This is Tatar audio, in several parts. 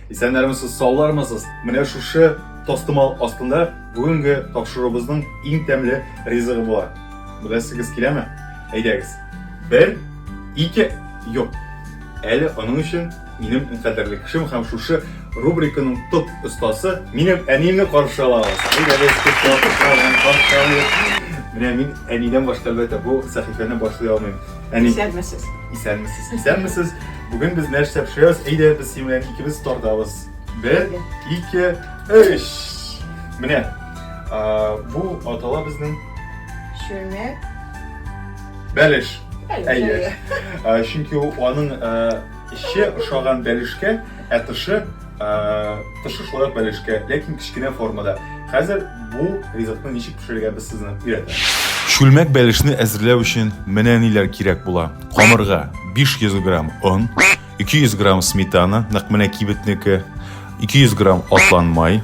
Исәннәрмесез, саулармысыз? Менә шушы тастымал астында бүгенге тапшыруыбызның иң тәмле ризыгы була. Беләсегез киләме? Әйдәгез. Бер, ике, юк. Әле аның өчен минем иң кадерле кешем һәм шушы рубриканың топ остасы минем әниемне каршы алабыз. Әйдәгез, каршы алабыз. Менә мин әнидән башка әлбәттә бу сәхифәне башлый алмыйм. Әни. Исәнмесез. Исәнмесез. Исәнмесез. Бүген без нәрсә пешерәбез? Әйдә, без синең белән икебез тартабыз. Бер, ике, өч. Менә а, бу атала безнең Чүмек. бәлеш. Әйе. А, Чөнки ул аның а, эче ошаган бәлешкә, ә тышы Тышы шулай ук бәлешкә, ләкин кечкенә формада. Хәзер бу ризыкны ничек пешерергә без сезне өйрәтәбез. Чүлмәк бәлешне әзерләү өчен менә ниләр кирәк була. Камырга 500 грамм он, 200 грамм сметана, нәкъ менә кибетнеке, 200 грамм атлан май,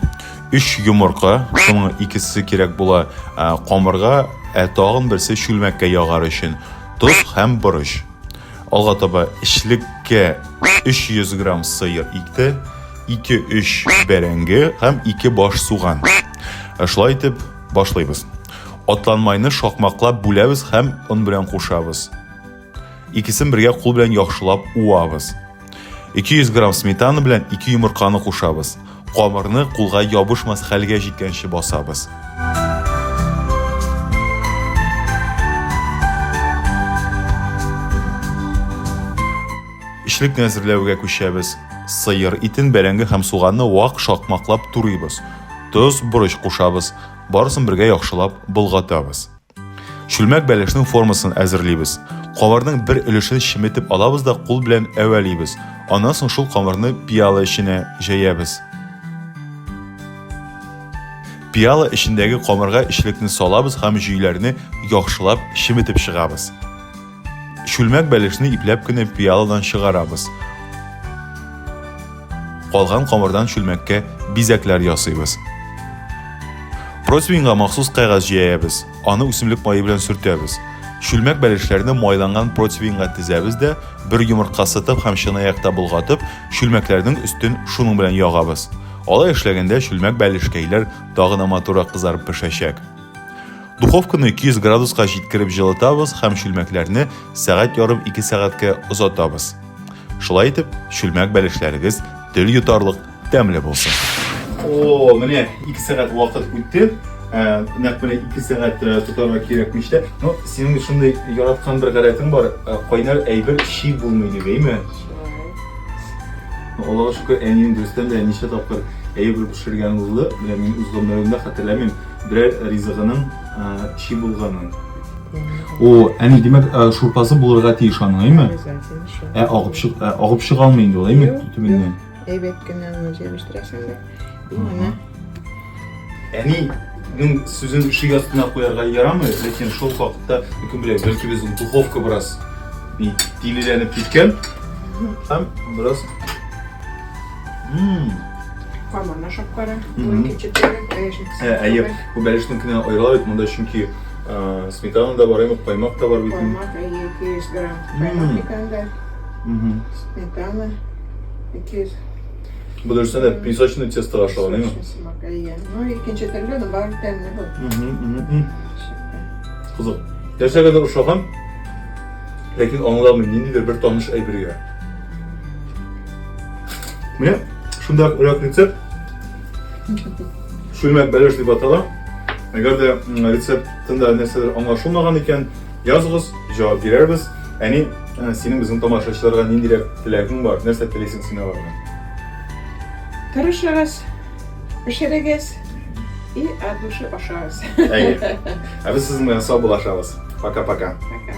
3 йомырка, шуның икесе кирәк була камырга, ә тагын берсе чүлмәккә ягар өчен, тоз һәм борыч. Алга таба эшлеккә 300 грамм сыер икте, 2-3 бәрәңге һәм 2 баш суган. Ә шулай итеп башлыйбыз. Атланмайны шакмаклап бүләбез һәм он белән кушабыз. Икесен бергә кул белән яхшылап уабыз. 200 грамм сметана белән 2 йомырканы кушабыз. Камырны кулга ябышмас хәлгә җиткәнче басабыз. Эчлекне әзерләүгә күчәбез. Сыер итен, бәрәңге һәм суганны вак шакмаклап турыйбыз. Тоз, борыч кушабыз. Барысын бергә яхшылап болгатабыз. Чүлмәк бәлешнең формасын әзерлибез. Камырның бер өлешен чеметеп алабыз да кул белән әвәлибез. Аннан соң шул камырны пиала эченә җәябез. Пиала эчендәге камырга эчлекне салабыз һәм җөйләрне яхшылап чеметеп чыгабыз. Чүлмәк бәлешне ипләп кенә пиаладан чыгарабыз. Калган камырдан чүлмәккә бизәкләр ясыйбыз. Противеньга махсус кәгазь җәябез, аны үсемлек мае белән сөртәбез. Чүлмәк бәлешләрне майланган противеньга тезәбез дә, бер йомырка сытып һәм чынаякта болгатып, чүлмәкләрнең өстен шуның белән ягабыз. Алай эшләгәндә чүлмәк бәлешкәйләр тагын да матуррак кызарып пешәчәк. Духовканы 200 градуска җиткереп җылытабыз һәм чүлмәкләрне сәгать ярым-ике сәгатькә озатабыз. Шулай итеп, чүлмәк бәлешләрегез тел йотарлык тәмле булсын. О, менә 2 сәгать вакыт үтте. Ә, нәкъ менә 2 сәгать э, тотарга кирәкмеш тә. Ну, синең шундый яраткан бер гадәтең бар, э, кайнар әйбер чи булмый дип, әйме? Аллага шөкер, әнием дөрестән дә ничә тапкыр әйбер пешергән булды. Менә мин үз гомеремдә хәтерләмим. Берәр ризыгының чи булганын. О, әни, димәк, шурпасы булырга тиеш аның, әйме? Ә агып чык, ә агып чыга алмый инде ул, әйме, төбеннән? Әйбәт кенә аны җәбештерәсең дә. Менә. Әни, Мин сүзен ишек астына куярга ярамый, ләкин шул хакта кем белә, бәлки безнең духовка бераз тилеләнеп киткән һәм бераз Карманнар шапкары, икенче төрле, бәлешник. Әйе, бу бәлешникне аерыла бит монда, чөнки сметана да бар, әйе, каймак та бар бит. Каймак, әйе, 200 грамм. Каймак бит анда. Сметана 200 Бу дөрестән дә песочный тесто ашаган, әйе? Әйе. Ну, икенче төрле, но бар тәмле бу. Кызык. Нәрсә генә ошаган? Ләкин аңламыйм, ниндидер бер таныш әйбергә. Менә шунда рәк рецепт. Шульмәк бәлеш дип атала. Әгәр дә рецептында нәрсәдер аңлашылмаган икән, языгыз, җавап бирербез. Әни, ә, синең безнең тамашачыларга ниндирәк теләгең бар? Нәрсә телисең син алардан? Тырышыгыз, пешерегез и от души ашагыз. Әйе. Ә без сезнең белән сау булашабыз. Пока-пока. Пока.